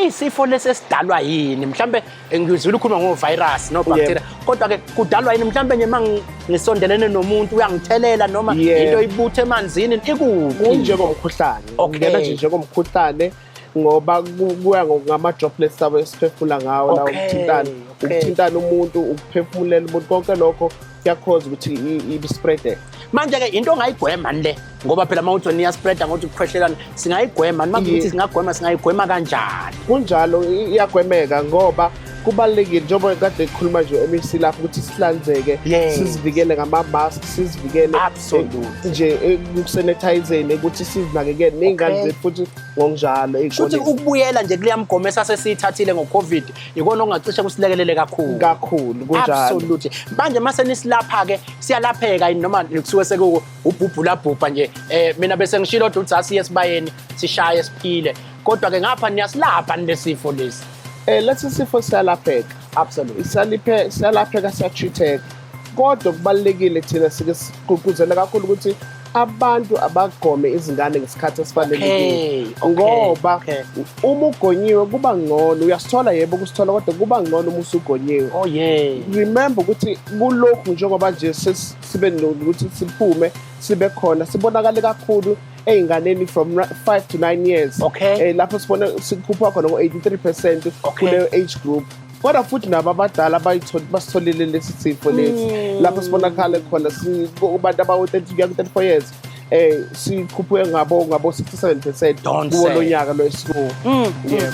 isifo lesi esidalwa yini mhlambe ngizwile ukhuluma ngo virus no bacteria kodwa ke kudalwa yini mhlambe nje mangisondelene nomuntu uyangithelela noma into ibuthe emanzini ikuphi kunjengomkhuhlane ungena nje njengomkhuhlane ngoba kuya ngama droplets sabo esiphefumula ngawo la ukuthintana ukuthintana umuntu ukuphefumulela umuntu konke lokho kuyakhoza ukuthi ibispreade manje-ke into ongayigwemani le ngoba phela uma uthi wena iyaspreada ngokuthi kukhwehlelana singayigwemani uma kuthi singagwema singayigwema kanjani kunjalo iyagwemeka ngoba kubalulekile njengoba kade kukhuluma nje MEC lapho ukuthi sihlanzeke sizivikele ngama-mask sizivikele eh, nje ekusenethayizeni eh, ukuthi sizinakekele ney'ngane zethu futhi ngokunjalo futhi ukubuyela nje kuleya mgomo esasesiyithathile ngo-covid ikona okungacishe kusilekelele kakhulu kakhulu kunjalo absolutely manje mase nisilapha ke siyalapheka noma kusuke seku ubhubhula bhubha nje eh mina bese ngishilo ukuthi udzasi esibayeni sishaye siphile kodwa ke ngapha niyasilapha nesifo lesi eh lesi sifo siyalapheka absolutely siyalapheka siyalapheka siyachitheka kodwa kubalulekile thina sike sigqugquzela kakhulu ukuthi abantu abagome izingane ngesikhathi esifanelekile ngoba uma ugonyiwe kuba ngcono uyasithola yebo ukusithola kodwa kuba ngcono uma usugonyiwe oh yeah remember ukuthi kulokhu njengoba nje sibe nokuthi siphume sibe khona sibonakale kakhulu ey'nganeni from five to nine years okay eh, lapho sibona sikhupha khona ngo-83 percent kuleyo age group kodwa futhi nabo abadala basitholile lesi sifo lesi mm. lapho sibonakale khona kubantu abawu-30 kuya ku-34 years eh sikhuphuke ngabo ngabo 67% kuwo lo nyaka lo esikuwo mm, mm. yeah